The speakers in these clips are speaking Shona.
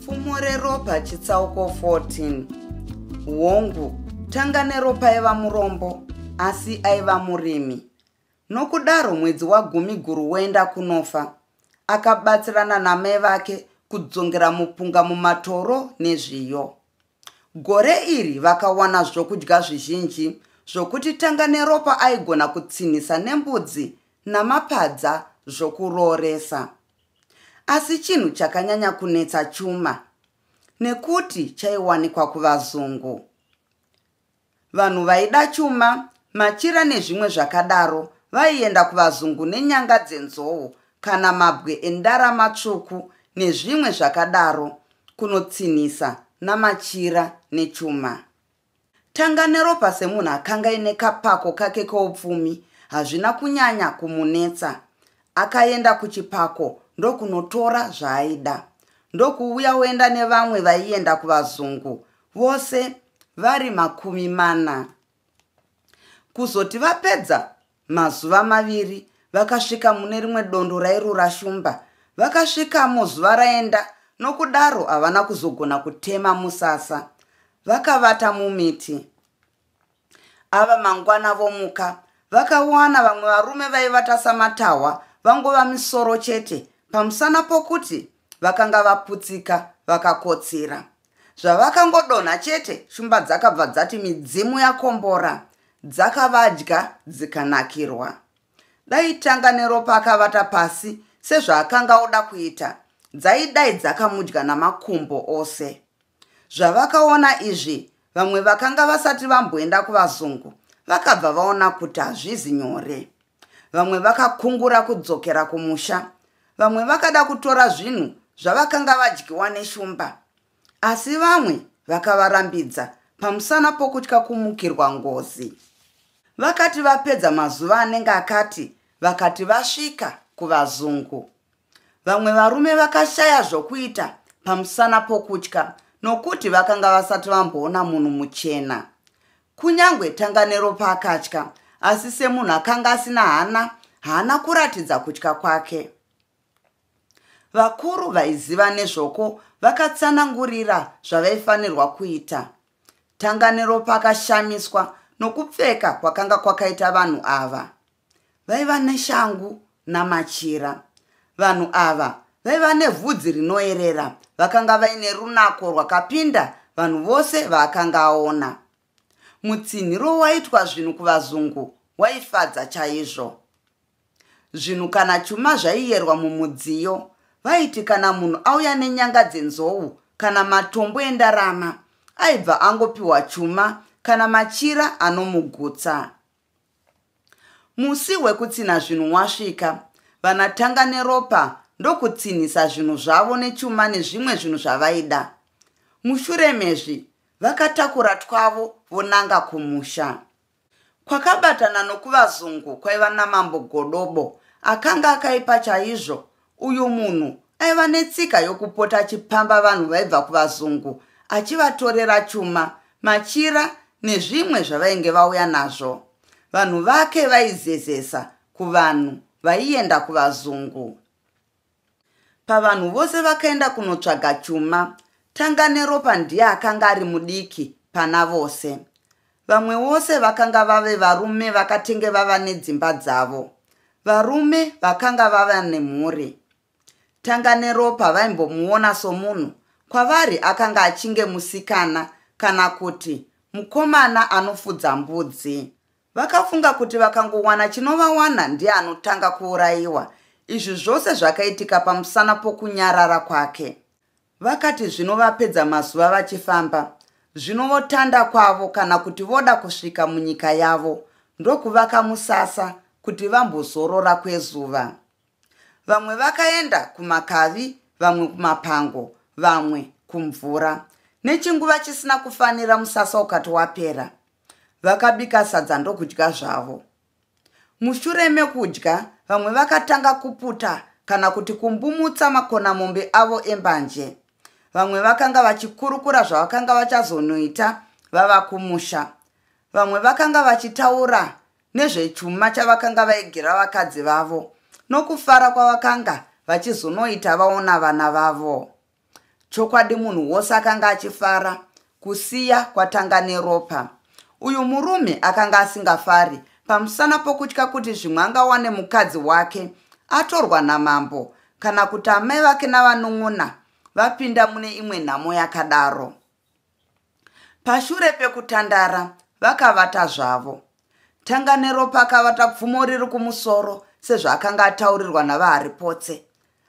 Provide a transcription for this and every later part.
Fumo reropa chitsauko 14 Hongu, tanga neropa aiva murombo, asi aiva murimi. Nokudaro mwedzi wagumi guru woenda kunofa. Akabatsirana namai vake kudzongera mupunga mumatoro nezviyo. Gore iri vakawana zvokudya zvizhinji zvokuti tanga neropa aigona kutsinhisa nembudzi namapadza zvokurooresa. Asi chinhu chakanyanya kunetsa chuma nekuti chaiwanikwa kuvazungu. Vanhu vaida chuma, machira nezvimwe zvakadaro vaienda kuvazungu nenyanga dzenzou kana mabwe endarama tsvuku nezvimwe zvakadaro kunotsinhisa namachira nechuma. Tanga neropa semunhu akanga aine kapako kake keupfumi hazvina kunyanya kumunetsa. Akaenda kuchipako ndokunotora zvaaida ndokuuya oenda nevamwe vaienda kuvazungu vose vari makumi mana. Kuzoti vapedza mazuva maviri vakasvika mune rimwe dondo rairura shumba. Vakasvikamo zuva raenda nokudaro havana kuzogona kutema musasa. Vakavata mumiti. Ava mangwana vomuka vakawana vamwe varume vaivata samatahwa vangova misoro chete pamusana pokuti vakanga vaputsika vakakotsira zvavakangodonha chete shumba dzakabva dzati midzimu yakombora dzakavadya dzikanakirwa dai tanga neropa akavata pasi sezvaakanga oda kuita dzaidai dzakamudya namakumbo ose Zvavakaona izvi, vamwe vakanga vasati vamboenda kuvazungu vakabva vaona kuti hazvizi nyore. Vamwe vakakungura kudzokera kumusha, vamwe vakada kutora zvinhu zvavakanga vadyiwa neshumba, asi vamwe vakavarambidza pamusana pokutya kumukirwa ngozi. Vakati vapedza mazuva anenge akati, vakati vasvika kuvazungu. vamwe varume vakashaya zvokuita pamusana pokutya nokuti vakanga vasati vamboona munhu muchena kunyange tanganero paakatya asi semunhu akanga asina hana haana kuratidza kutya kwake vakuru vaiziva nezvoko vakatsanangurira zvavaifanirwa kuita tanganero pakashamiswa nokupfeka kwakanga kwakaita vanhu ava vaiva neshangu namachira vanhu ava vaiva nevhudzi rinoerera vakanga vaine runako rwakapinda vanhu vose vaakanga aona mutsinhiro waitwa zvinhu kuvazungu waifadza chaizvo zvinhu kana chuma zvaiyerwa mumudziyo vaiti kana munhu auya nenyanga dzenzou kana matombo endarama aibva angopiwa chuma kana machira anomugutsa Musi wekutsinha zvinhu wasvika, vanatanga neropa ndokutsinhisa zvinhu zvavo nechuma nezvimwe zvinhu zvavaida. Mushure mezvi, vakatakura twavo vonanga kumusha. Kwakabatana nokuvazungu kwaiva namambo Godobo akanga akaipa chaizvo Uyu munhu aiva netsika yokupota achipamba vanhu vaibva kuvazungu achivatorera chuma, machira nezvimwe zvavainge vauya nazvo. Vanhu vake vaizezesa kuvanhu vaienda kuvazungu. Pavanhu vose vakaenda kunotsvaga chuma, Tanganeropa ndiye akanga ari mudiki pana vose. Vamwe vose vakanga vave varume vakatenge vava nedzimba dzavo. Varume vakanga vava nemhuri. Tanga neropa vaimbomuona somunhu. Kwavari akanga achinge musikana kana kuti mukomana anofudza mbudzi. Vakafunga kuti vakangowana chinovawana ndiye anotanga kuurayiwa. Izvi zvose zvakaitika pamusana pokunyarara kwake. Vakati zvino vapedza mazuva vachifamba, zvino votanda kwavo kana kuti voda kusvika munyika yavo, ndokuvaka musasa kuti vambozorora kwezuva. Vamwe vakaenda kumakavi, vamwe kumapango, vamwe kumvura. Nechinguva chisina kufanira musasa ukati wapera. Vakabika sadza ndokudya zvavo. Mushure mekudya, vamwe vakatanga kuputa kana kuti kumbumutsa makonamombe avo embanje. Vamwe vakanga vachikurukura zvavakanga vachazonoita vava kumusha. Vamwe vakanga vachitaura nezvechuma chavakanga vaigira vakadzi vavo nokufara kwavakanga vachizonoita vaona vana vavo. chokwadi munhu wose akanga achifara kusiya kwatanga neropa uyu murume akanga asingafari pamusana pokutya kuti zvimwe angawane mukadzi wake atorwa namambo kana kuti amai vake navanun'una vapinda mune imwe nhamo yakadaro pashure pekutandara vakavata zvavo tanganeropa akavata pfumo riri kumusoro sezvaakanga ataurirwa navaharipotse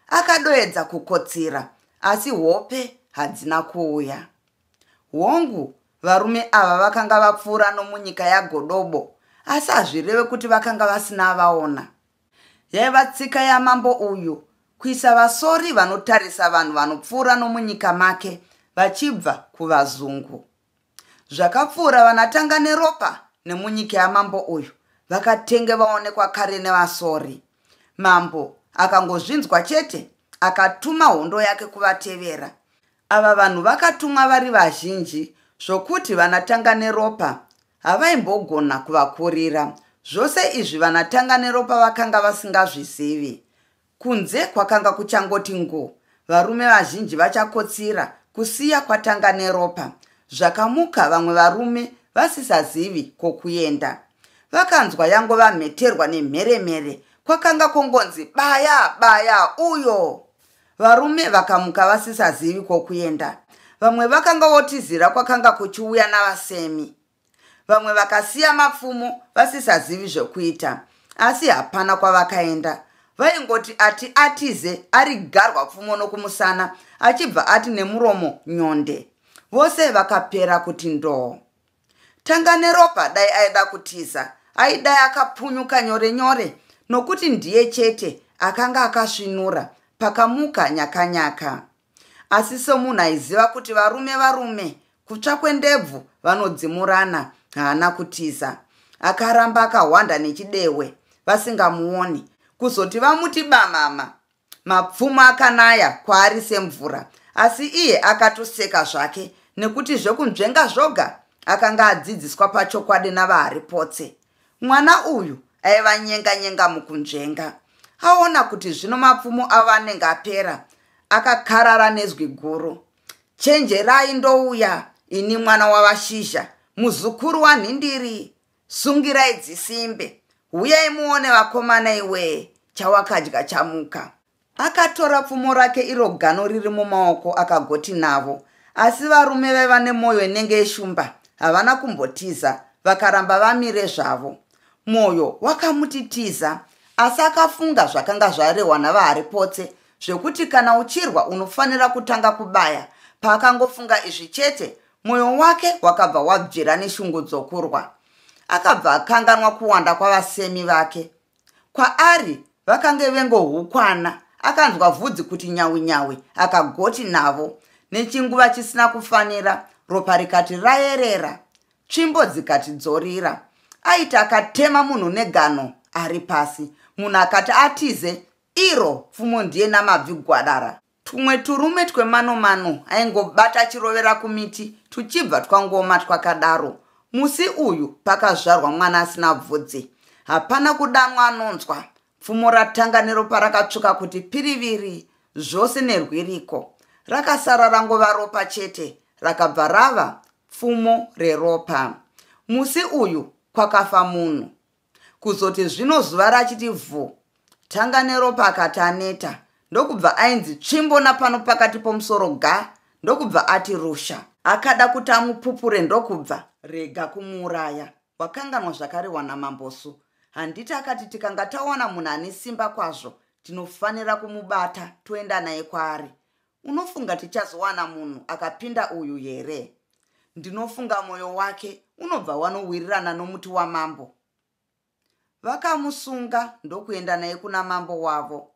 akadoedza kukotsira asi hope hadzina kuuya hongu varume ava vakanga vapfuura nomunyika yagodobo asi hazvireve kuti vakanga vasina vaona Yaiva tsika yamambo uyu kuisa vasori vanotarisa vanhu vanopfuura nomunyika make vachibva kuvazungu. Zvakapfuura vanatanga neropa nemunyika yamambo uyu vakatenge vaonekwa kare nevasori. Mambo akangozvinzwa chete akatuma hondo yake kuvatevera. Ava vanhu vakatumwa vari vazhinji zvokuti vanaTanganeropa havaimbogona kuvakurira. Zvose izvi vanaTanganeropa vakanga vasingazvizivi. Kunze kwakanga kuchangoti ngo, varume vazhinji vachakotsira kusiya kwaTanganeropa. Zvakamuka vamwe varume vasisazivi kwokuenda. Vakanzwa yangova mheterwa nemheremhere, kwakanga kongonzi baya baya uyo! varume vakamuka vasisazivi kwokuenda vamwe vakanga votizira kwakanga kuchiuya navasemi vamwe vakasiya mapfumo vasisazivi zvokuita asi hapana kwavakaenda vaingoti ati atize ari garwa pfumo nokumusana achibva ati nemuromo nyonde vose vakapera kuti ndoo tanga neropa dai aida kutiza aidai akapunyuka nyore nyore nokuti ndiye chete akanga akasvinura pakamuka nyakanyaka asi somunhu aiziva kuti varume varume kutsva kwendebvu vanodzimurana haana kutiza akaramba akahwanda nechidehwe vasingamuoni kuzoti vamuti bamama mapfumo akanaya kwaari semvura asi iye akatoseka zvake nekuti zvekunzvenga zvoga akanga adzidziswa pachokwadi navaharipotse mwana uyu aiva nyenga nyenga mukunzvenga aona kuti zvino mapfumo avo anenge apera akakarara nezwi guru chenjerai ndouya ini mwana wavashizha muzukuru wanhindiri sungirai dzisimbe huyai muone vakomana iwee chawakadya chamuka akatora pfumo rake iro gano riri mumaoko akagoti navo asi varume vaiva nemwoyo inenge yeshumba havana kumbotiza vakaramba vamire zvavo mwoyo wakamuti tiza asi akafunga zvakanga zvarehwa navahari potse zvekuti kana uchirwa unofanira kutanga kubaya paakangofunga izvi chete Mwoyo wake wakabva wabvira neshungu dzokurwa. Akabva akanganwa kuwanda kwavasemi vake. Kwaari vakange vengohukwana. Akanzwa vhudzi kuti nyawi nyawi, akagoti navo. Nechinguva chisina kufanira, ropa rikati rayerera, tsvimbo dzikati dzorira. Aiti akatema munhu negano ari pasi. Munhu akati atize, iro pfumo ndiye namabvi gwadara. Tumwe turume twemanomano aingobata achirovera kumiti tuchibva twangoma twakadaro. Musi uyu pakazvarwa mwana asina bvudzi. Hapana kudanwa anonzwa. Pfumo ratanga neropa rakatsvuka kuti piriviri zvose nerwiriko. Rakasara rangova ropa chete rakabva rava pfumo reropa. Musi uyu kwakafa munhu. kuzoti zvino zuva rachiti vhu tanga neropa akati aneta ndokubva ainzi tsvimbo napano pakati pomusoro ga ndokubva ati rusha akada kuti amupupure ndokubva rega kumuuraya wakanganwa zvakarehwa namambosu handiti akati tikanga tawana munhu ane simba kwazvo tinofanira kumubata toenda naye kwaari Unofunga tichazowana munhu akapinda uyu here? Ndinofunga moyo wake unobva wanowirirana nomuti wamambo. Vakamusunga ndokuenda naye kuna mambo wavo.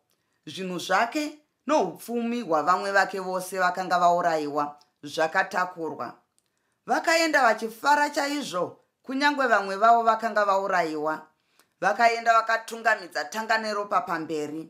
Zvinhu zvake noupfumi hwavamwe vake vose vakanga vaurayiwa zvakatakurwa. Vakaenda vachifara chaizvo kunyange vamwe vavo vakanga vaurayiwa. Vakaenda vakatungamidza tanga neropa pamberi.